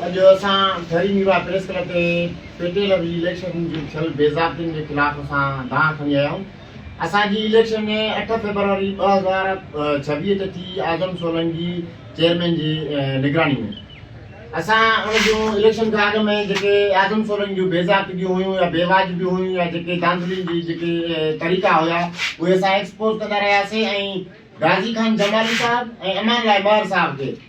اڄ اسان Thari Mirwah press club تي پي ٽي ايل جي اليڪشن جي ٿيل بي ضابطين جي خلاف اسان دانهن کڻي آيا آهيون اسان جي اليڪشن اٺ فيبروري ٻه هزار ڇويهه تي ٿي اعظم سولنگي چيئرمين جي نگراني ۾ اسان ان جون اليڪشن کان اڳ ۾ جيڪي اعظم سولنگي جون بي ضابطگيون هيون يا بي واجبيون هيون يا جيڪي دانڌلين جي جيڪي طريقا هيا اهي اسان ايڪسپوز ڪندا رهياسين ۽ غازي خان جمالي صاحب ۽ امان لاء مهر صاحب کي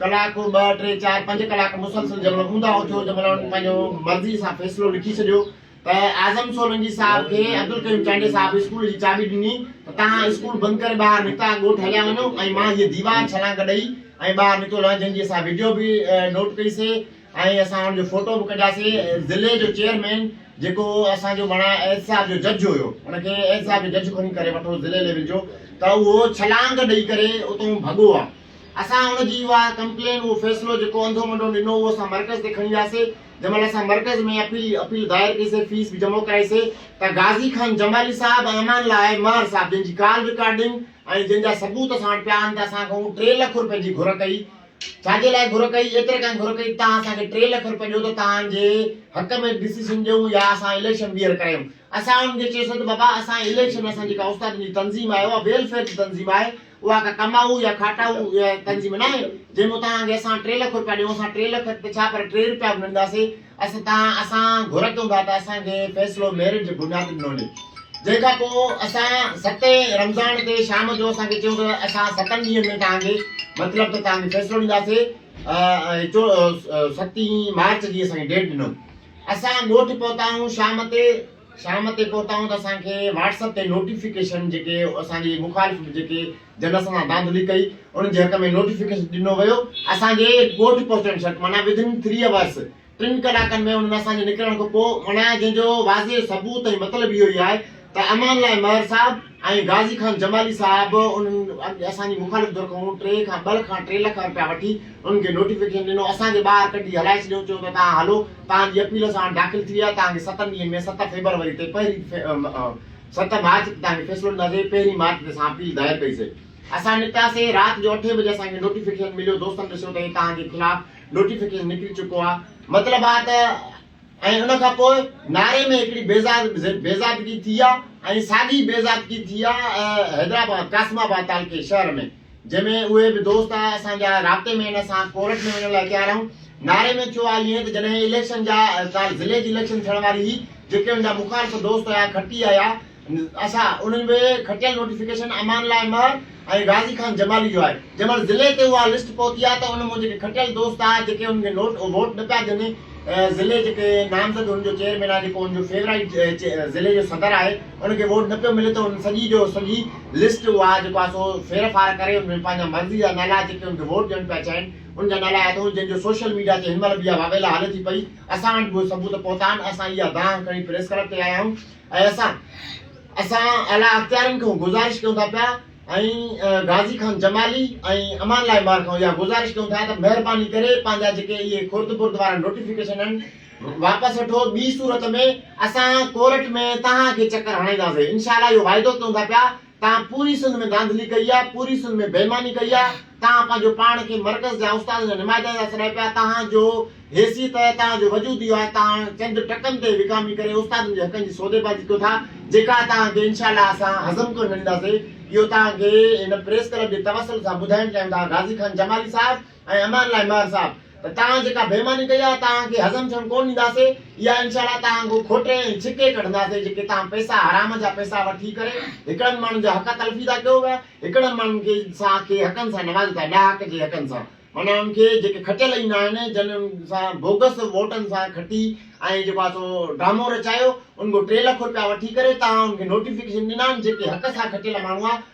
ڪلاڪ ٻه ٽي چار پنج ڪلاڪ مسلسل جنهن مهل اونڌا اٿيو جنهن مهل انهن پنهنجو مرضي سان فيصلو لکي ڇڏيو ته اعظم سولنگي صاحب کي عبدالقيوم چانڊيي صاحب اسڪول جي چاٻي ڏني ته تهان اسڪول بند ڪري ٻاهر نڪتا ڳوٺ هليا وڃو ۽ مان هيء ديوار ڇلانگ ڏئي ۽ ٻاهر نڪتو لهان جنهن جي اسان وڊيو به نوٽ ڪئي سي ۽ اسان ان جو فوٽو به ڪڍياسين ضلعي جو چيئرمين جيڪو اسان جو ماڻا احتساب جو جج هيو ان کي احتساب جو جج کڻي ڪري وٺو ضلعي ليول جو ته اهو ڇلانگ ڏئي ڪري اتون ڀڳو آ اسان ان جي اها ڪمپلين اهو فيصلو جيڪو انڌو منڊو ڏنو اهو اسان مرڪز تي کڻي وياسي جنهن مهل اسان مرڪز ۾ اپيل اپيل دائر ڪئي سي فيس به جمع ڪرائي سي ته غازي خان جمالي صاحب ۽ امان الله مهر صاحب جن جي ڪال رڪارڊنگ ۽ جن جا ثبوت اسان وٽ پيا آهن ته اسان کان ٽي لک روپين جي گهر ڪئي ڇا جي لاء گهر ڪئي، ايتري ڪانه گهر ڪئي، توهان اسان کي ٽي لک روپيا ڏيو ته توهان جي حق ۾ ڊسيشن ڏيون يا اسان اليڪشن ٻيهر ڪرايون. اسان انهن کي چيوسين ته بابا اسان اليڪشن اسان جيڪا استادن جي تنظيم آهي اها ويلفيئر جي تنظيم آهي اها ڪا ڪمائو يا کاٽائو تنظيم ناهي جنهن ۾ توهان کي اسان ٽي لک روپيا ڏيون، اسان ٽي لک ته ڇا پر ٽي روپيا به نه ڏينداسين. اسين تان اسان گهر ڪيون ٿا ته اسان کي فيصلو ميرٽ جي بنياد تي ڏنو وڃي جنهن کان پوء اسان ستين رمضان تي شام جو اسان کي چيو ته اسان ستن ڏينهن ۾ توهان کي مطلب ته توهان کي فيصلو ڏينداسي ستين مارچ جي اسان کي ڊيٽ ڏنو اسان ڳوٺ پهتايون شام تي شام تي پهتائون ته اسان کي واٽس اپ تي نوٽيفڪيشن جيڪي اسان جي مخالف جيڪي جن اسان سان ڌانڌلي ڪئي انهن جي حق ۾ نوٽيفڪيشن ڏنو ويو اسان جي ڳوٺ پهچڻ شرط معنيٰ Within Three Hours ٽن ڪلاڪن ۾ انهن ۾ اسان جي نڪرڻ کان پوء معنيٰ جنهن جو واضح ثبوت ۽ مطلب اهو ئي آهي ته امان لاء مهر صاحب ۽ غازي خان جمالي صاحب انهن اسان جي مخالف ڌر کان ٽي کان ٻه کان ٽي لک رپيا وٺي انهن کي نوٽيفڪيشن ڏنو اسان کي ٻاهر ڪڍي هلائي ڇڏيو چيو ته توهان هلو توهان جي اپيل اسان وٽ داخل ٿي وئي آهي توهان کي ستن ڏينهن ۾ ست فيبروري تي پهرين ست مارچ تي توهان کي فيصلو ڏينداسين پهرين مارچ تي اسان اپيل دائر ڪئي سي اسان نڪتاسين رات جو اٺين بجي اسان کي نوٽيفڪيشن مليو دوستن ڏسيو ته هي توهان جي خلاف نوٽيفڪيشن نڪري چڪو آهي مطلب آهي ته ۽ ان کان پوء ناري ۾ هڪڙي بيضابطگي ٿي آ ۽ ساڳي بيضابطگي ٿي آ حيدرآباد قاسم آباد تعلقي شهر ۾ جنهن ۾ اهي به دوست آ اسان جا رابطي ۾ ان سان ڪورٽ ۾ وڃڻ لاء تيار آهيون ناري ۾ ٿيو آ ائين ته جڏهن اليڪشن جا ڪالهه ضلعي جي اليڪشن ٿيڻ واري هئي جيڪي ان جا مخالف دوست هيا کٽي هيا اسان انهن ۾ کٽيل نوٽيفڪيشن امان لاء مهر ۽ غازي خان جمالي جو آهي جنهن مهل ضلعي تي اها لسٽ پهتي آهي ته ان مون جيڪي کٽيل دوست آهي جيڪي انهن کي نوٽ ووٽ نه پيا ڏين ضلعي جيڪي نامزد ان جو چيئرمين آهي جيڪو ان جو فيورائيٽ ضلعي جو صدر آهي ان کي ووٽ نه پيو ملي ته ان سڄي جو سڄي لسٽ اها جيڪو آهي سو ڦير ڦار ڪري ان ۾ پنهنجا مرضي جا نالا جيڪي ان کي ووٽ ڏيڻ پيا چاهين ان جا نالا اٿو جن جو سوشل ميڊيا تي هن مهل به اها واويلا هلي ٿي پئي اسان وٽ به ثبوت پهتا آهن اسان اها دانهن کڻي پريس ڪلب تي آيا آهيون اي اسان! اسان اعليٰ اختيارين کان گذارش ڪيون ٿا پيا ۽ غازي خان جمالي ۽ امان الله عمار کان اها گذارش ڪيون ٿا ته مهرباني ڪري پنهنجا جيڪي اهي خرد برد وارا نوٽيفڪيشن آهن واپس وٺو ٻي صورت ۾ اسان ڪورٽ ۾ توهان کي چڪر هڻائينداسين انشاء الله اهو واعدو ڪيون ٿا پيا توهان پوري سنڌ ۾ ڌانڌلي ڪئي آهي، پوري سنڌ ۾ بيماني ڪئي آهي، توهان پنهنجو پاڻ کي مرڪز جا استادن جا نمائندن ٿا سڏايو پيا، توهان جو حيثيت، توهان جو وجود اهو آهي، توهان چند ٽڪن تي وڪامي ڪري استادن جي حقن جي سوديبازي ڪيو ٿا، جيڪا توهان کي انشاء الله اسان هضم ڪونه ڏينداسين، اهو توهان کي هن پريس ڪلب جي توسل سان ٻڌائڻ چاهيون ٿا، غازي خان جمالي صاحب! ۽ امان الله ميار صاحب ته توهان جيڪا بيماني ڪئي آهي توهان کي هضم ٿيڻ ڪو ڏينداسي اها انشاء الله توهان کان کوٽي ۽ ڇڪي ڪڍنداسي جيڪي توهان پئسا حرام جا پئسا وٺي ڪري هڪڙن ماڻهن جا حق تلفي ٿا ڪيو پيا هڪڙن ماڻهن کي سان کي حقن سان نوازو ٿا ڏاهڪ جي حقن سان معنيٰ انهن کي جيڪي کٽيل ئي نه آهن جن ان سان بوگس ووٽن سان کٽي ۽ جيڪو آهي سو ڊرامو رچايو ان کان ٽي لک روپيا وٺي ڪري توهان ان کي نوٽيفڪيشن ڏنا آهن جيڪي حق سان کٽيل ماڻهو آهي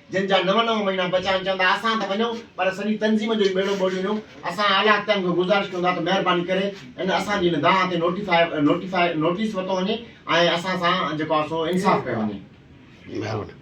جن جا نو نو مهينا بچيا آهن چوندا اسان ته وڃون پر سڄي تنظيم جو ئي ٻيڙو ٻوڙي وڃو اسان اعليٰ اختيارن کان گذارش ڪيون ٿا ته مهرباني ڪري ان اسان جي هن دانهن تي نوٽيفائي نوٽيفائي نوٽيس ورتو وڃي ۽ اسان سان جيڪو آهي سو انصاف ڪيو وڃي. مهرباني.